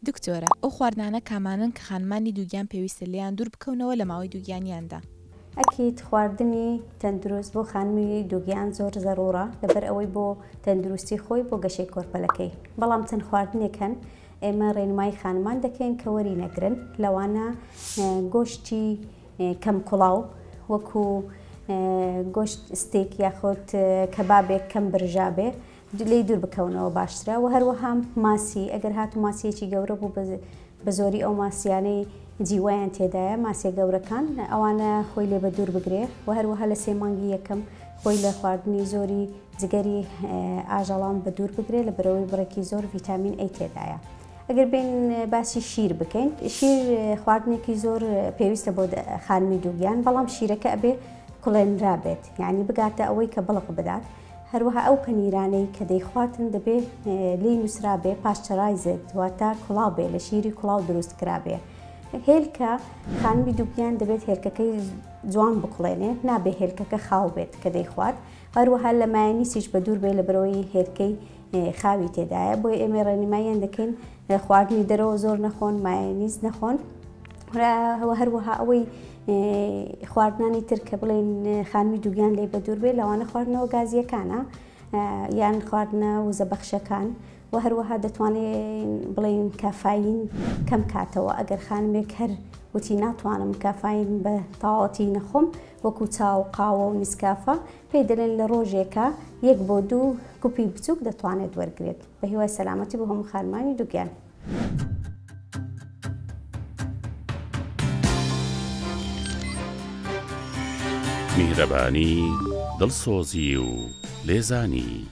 دکتۆرە ئەو خواردنانە کامانەن کە خانمانی دووگیان پێویستە لێیان دوور بکەونەوە لە ماوەی دووگیانیاندا؟ ئەکید خواردنی تەندروست بۆ خانمی دووگیان زۆر زەرورە لەبەر ئەوەی بۆ تەندروستی خۆی بۆ گەشەی کۆرپەلەکەی بەڵام چەند خواردنێک هەن ئێمە ڕێنمایی خانمان دەکەین کە وەری نەگرن لەوانە گۆشتی کەم کوڵاو وەکو گۆشت ستێک یاخود کەبابێک کەم برژابێ لێی دوور بکەونەوە باشترە وە هەروەها ماسی ئەگەر هاتوو ماسیەکی گەورە بوو بە زۆری ئەو ماسیانەی جیوەیان تێدایە ماسیە گەورەکان ئەوانە خۆی لێ بە دوور بگرێ و هەروەها لە سێ مانگی یەکەم خۆی لە خواردنی زۆری جگەری ئاژەڵان بە دوور بگرێ لە بەرەوەی بڕێکی زۆر ڤیتامین ئەی تێدایە. ئەگەر بین باسی شیر بکەین شیر خواردنێکی زۆر پێویستە بۆ خانمی دووگیان بەڵام شیرەکە ئەبێ کوڵێنرا بێت یعنی بگاتە ئەوەی کە بڵق بدات هەروەها ئەو پەنیرانەی کە دەیخواتن دەبێ لێی نووسرابێ پاشچەرایزێت واتە کوڵاو بێ لە شیری کوڵاو دروست کرابێ هێلکە خانمی دووگیان دەبێت هێلکەکەی جوان بکڵێنێ نابێ هێلکەکە خاو بێت کە دەیخوات هەروەها لە مایەنیسیش بە دوور بێ لە برەوەی هێلکەی خاوی تێدایە بۆیە ئێمە ڕێنماییان دەکەین خواردنی دەرەوە زۆر نەخۆن مایەنیز نەخۆن هەوە هەروەها ئەوەی خواردنانی تر کە بڵێن خانمی دووگیان لێ بە دوور بێ لەوانە خواردنەوە گازیەکانە یان خواردنە وزە بەخشەکان و هەروەها دەتوانێت بڵێن کافاین کەم کاتەوە ئەگەر خانمێک هەر وتی ناتوانم کافاین بە تاواتی نەخۆم وەکو چاو قاوە و نیسکافە پێی دەلێن لە رۆژێکا یەک بۆ دوو گوپی بچوک دەتوانێت وەرگرێت. بە هیوای سەلامەتی بۆ هەموو خانمانی دوگیان. میهرەبانی، دڵسۆزی و لێزانی.